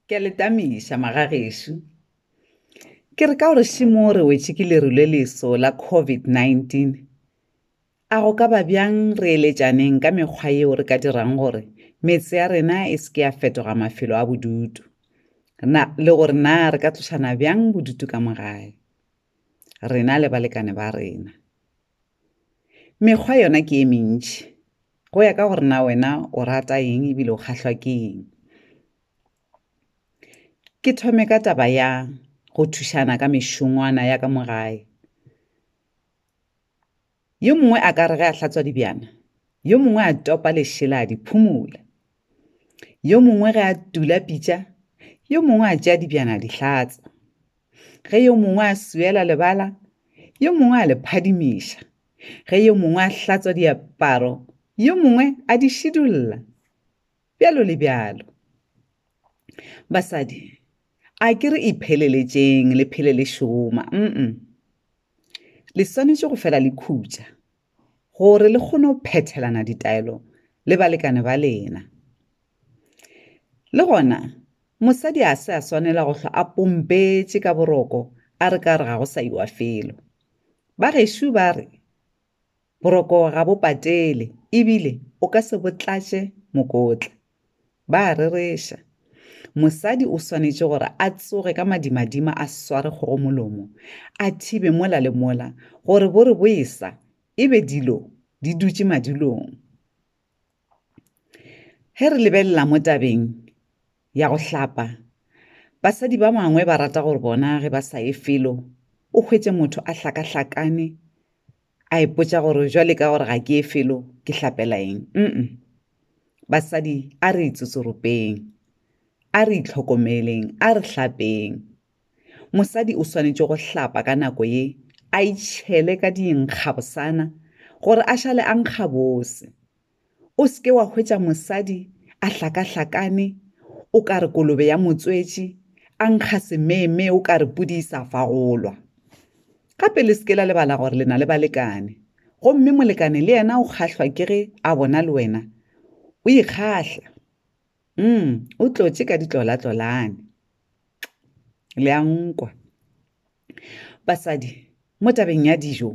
ke a letamiša magagešo ke re ka gore šimo re wetše ke leru le leso la covid-19 a go ka ba bjang re eletšaneng ka mekgwa yeo re ka dirang gore metse ya rena e se ke ya fetoga mafelo a bodutu na le gore na re ka tlošana bjang bodutu ka mogae rena le balekane ba rena Mekgwa yona ke e mentši. Go ya ka gore na wena o rata eng ebile o kgahlwa ke eng. Ke thome ka taba ya go thušana ka mešongwana ya ka mo gae. Yo mongwe a ka re ge a hlatswa dibjana, yo mongwe a topa lešela a di phumula. Yo mongwe ge a tula pitša, yo mongwe a tšea dibjana a di hlatsa. ge yo mongwe a swela lebala yo mongwe a le phadimiša ge yo mongwe a hlatswa diaparo yo mongwe a di šidulla bjalo le bjalo basadi a ke re ipheleletšeng le phele le šoma mm le swanetše go fela le khutša gore le kgone go phethelana ditaelo le balekane ba lena. Le gona, mosadi a se a swanela go hlwa a pompetše ka boroko a re ka re ga go sa iwa felo. Ba gešo ba re, Boroko ga bo patele ebile o ka se bo tlatše mokotla. Ba a rereša. Mosadi o swanetše gore a tsoge ka madimadima a sware kgogo molomo, a thibe mola le mola gore bo re boesa e be dilo di dutše madulong. Ge re lebelela mo tabeng ya go hlapa, basadi ba bangwe ba rata gore bona ge ba sa ye felo o hwetše motho a hlakahlakane a ipotša gore jwale ka gore ga ke e felo ke hlapela eng mm basadi a re itsotsoropeng a re itlhokomeleng a re hlapeng mosadi o swanetše go hlapa ka nako ye a itšhele ka dinkgabosana gore a šale a nkgabose O se ke wa hwetša mosadi a hlakahlakane o ka re kolobe ya motswetši, a nkga semeemee o ka re pudi e sa fagolwa. Gape le se ke la lebala gore le na le balekane, gomme molekane le yena o kgahlwa ke ge a bona le wena o ikgahla. Umm, o tlotše ka ditlolatlolane. Le a nkwa. Basadi, mo tabeng ya dijo,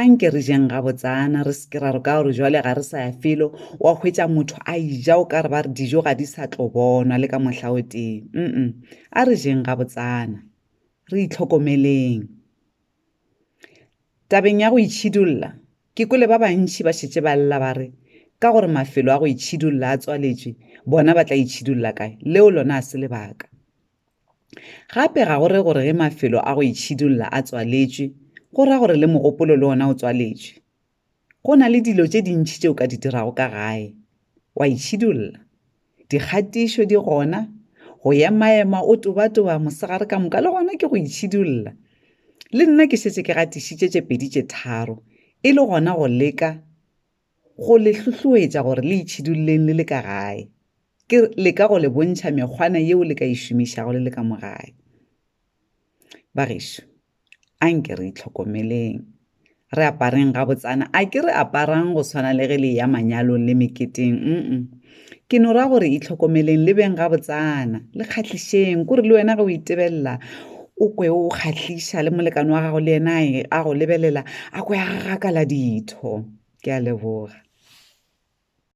a nke re jeng gabotsana re se ke ra re ka gore jwale ga re sa ya felo wa hwetša motho a ija o ka re ba re dijo ga di sa tlo bonwa le ka mohla o tee mm a re jeng gabotsana re itlhokomeleng tabeng ya go itšhidulla ke kole ba bantši ba šetše ba lla ba re ka gore mafelo a go itšhidulla a tswaletšwe bona ba tla itšhidulla kae leo lona a se lebaka Gape ga go re gore ge mafelo a go itšhidulla a tswaletšwe, go ra gore le mogopolo le ona o tswaletšwe. Go na le dilo tše dintši tše o ka di dirago ka gae, wa itšhidulla. Dikgatišo di gona, go emaema o tobatoba mosegare ka moka le gona ke go itšhidulla. Le nna ke šetše ke gatišitše tše pedi tše tharo, e le gona go leka Go le hlohloetša gore le itšhidulleng le le ka gae, ke leka go le bontšha mekgwana yeo le ka e šomišago le le ka mo gae. Bagešo, a nke re itlhokomeleng, re apareng gabotsana, a ke re aparang go swana le ge le eya manyalong le meketeng, mm-mm, Ke no ra gore itlhokomeleng le beng gabotsana, le kgahlišeng, kore le wena ge o itebelela o kwe o kgahliša le molekane wa gago le yena a go lebelela a kwe a gagakala ditho. Ke a leboga.